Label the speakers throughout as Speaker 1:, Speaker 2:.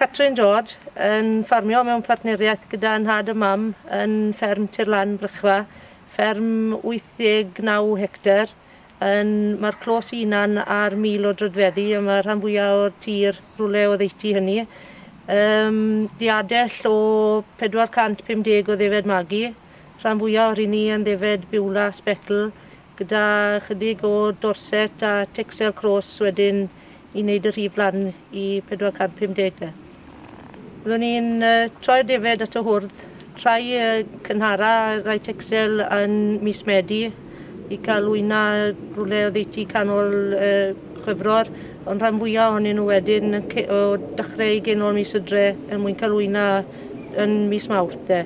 Speaker 1: Catrin George yn ffarmio mewn partneriaeth gyda nhad a mam yn fferm Tirlan Brychfa, fferm 89 hectar. Yn, mae'r clos i hunan ar mil o drydfeddi a mae rhan fwyaf o'r tir rhywle o ddeutu hynny. Um, diadell o 450 o ddefed magi, rhan fwyaf o'r hynny yn ddefed biwla sbecl, gyda chydig o Dorset a Texel Cross wedyn i wneud y rhif lan i 450 de. Byddwn ni'n troi'r defaid at y hwrdd, rhai cynhara a rhai Texel yn mis Medi i cael wyna rhywle oddeutu canol Chwefror, ond rhan fwyaf ohonyn nhw wedyn o dechrau i genol mis y dre er mwyn cael wyna yn mis Mawrth de.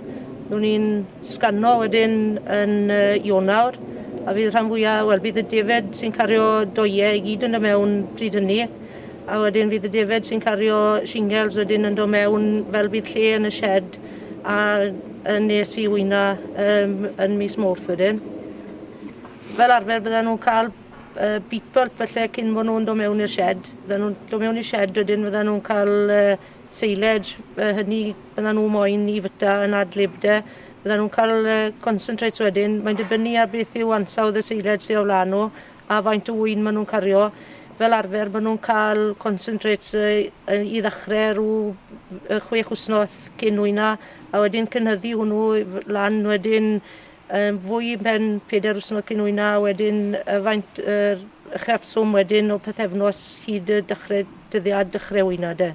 Speaker 1: Byddwn ni'n sgano wedyn yn y Ionawr a fydd rhan fwya', wel bydd y defaid sy'n cario doie i gyd yn do' mewn pryd hynny a wedyn fydd y defaid sy'n cario shingles wedyn yn do' mewn fel bydd lle yn y shed a yn nes i wyna um, yn mis Mawrth wedyn. Fel arfer bydden nhw'n cael uh, beat pulp felly cyn bod nhw'n do' mewn i'r shed. Bydden nhw'n do' mewn i'r shed wedyn fydden nhw'n cael uh, seiled yy hynny byddan nhw moyn i fyta yn ad-lib de. Byddan nhw'n cael yy concentrates wedyn. Mae'n dibynnu ar beth yw ansawdd y seiled sy' o flaen nhw a faint o ŵyn maen nhw'n cario. Fel arfer maen nhw'n cael concentrates yy yy i ddechrau rhyw yy chwech wythnos cyn ŵyna a wedyn cynyddu hwnnw lan wedyn yn fwy yn pen pedair wsnos cyn hwyna a wedyn yy faint yr uchafswm wedyn o pythefnos hyd y dechre dyddiad dechre hwyna de.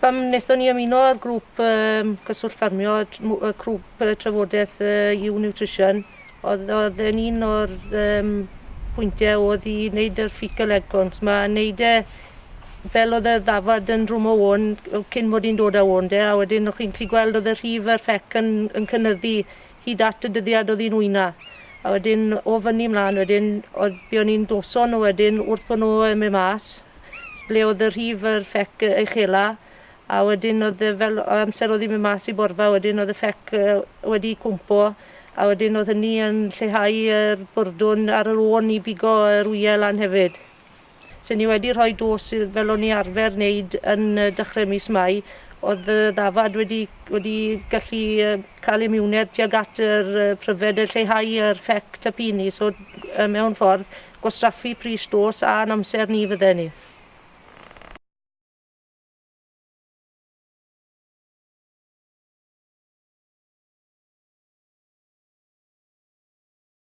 Speaker 1: Pam wnaethon ni ymuno â'r grŵp um, cyswllt ffarmio, y crwp uh, trafodaeth uh, You Nutrition, oedd, oedd yn un o'r um, pwyntiau oedd i wneud yr fecal egg cones 'ma, a wneud e Fel o'dd y ddafad yn rhwmo ŵan yy cyn mod i'n dod â ŵan 'de a wedyn o' chi'n gllu gweld o'dd y rhif a'r ffec yn yn cynyddu hyd at y dyddiad o'dd 'i'n ŵyna. A wedyn o fynny mlan wedyn o'dd be' o'n i'n doso nw wedyn wrth bo' nw yn myn' mas s- ble o'dd y rhif a'r ffec yy uchela a wedyn o'dd e fel o amser o'dd 'i'n myn' mas i borfa wedyn o'dd y ffec yy wedi cwmpo a wedyn o'dd hynny yn lleihau yr bwrdwn ar yr ô'n i bigo yr wyau lan hefyd. Lle ni wedi rhoi dos i fel o'n ni arfer neud yn yy dechre mis Mai o'dd y ddafad wedi wedi gallu yy ca'l imiwnedd tuag at yr yy pryfed a lleihau yr ffect y pini so yy mewn ffordd gwastraffu pris dos a'n amser ni fydden ni.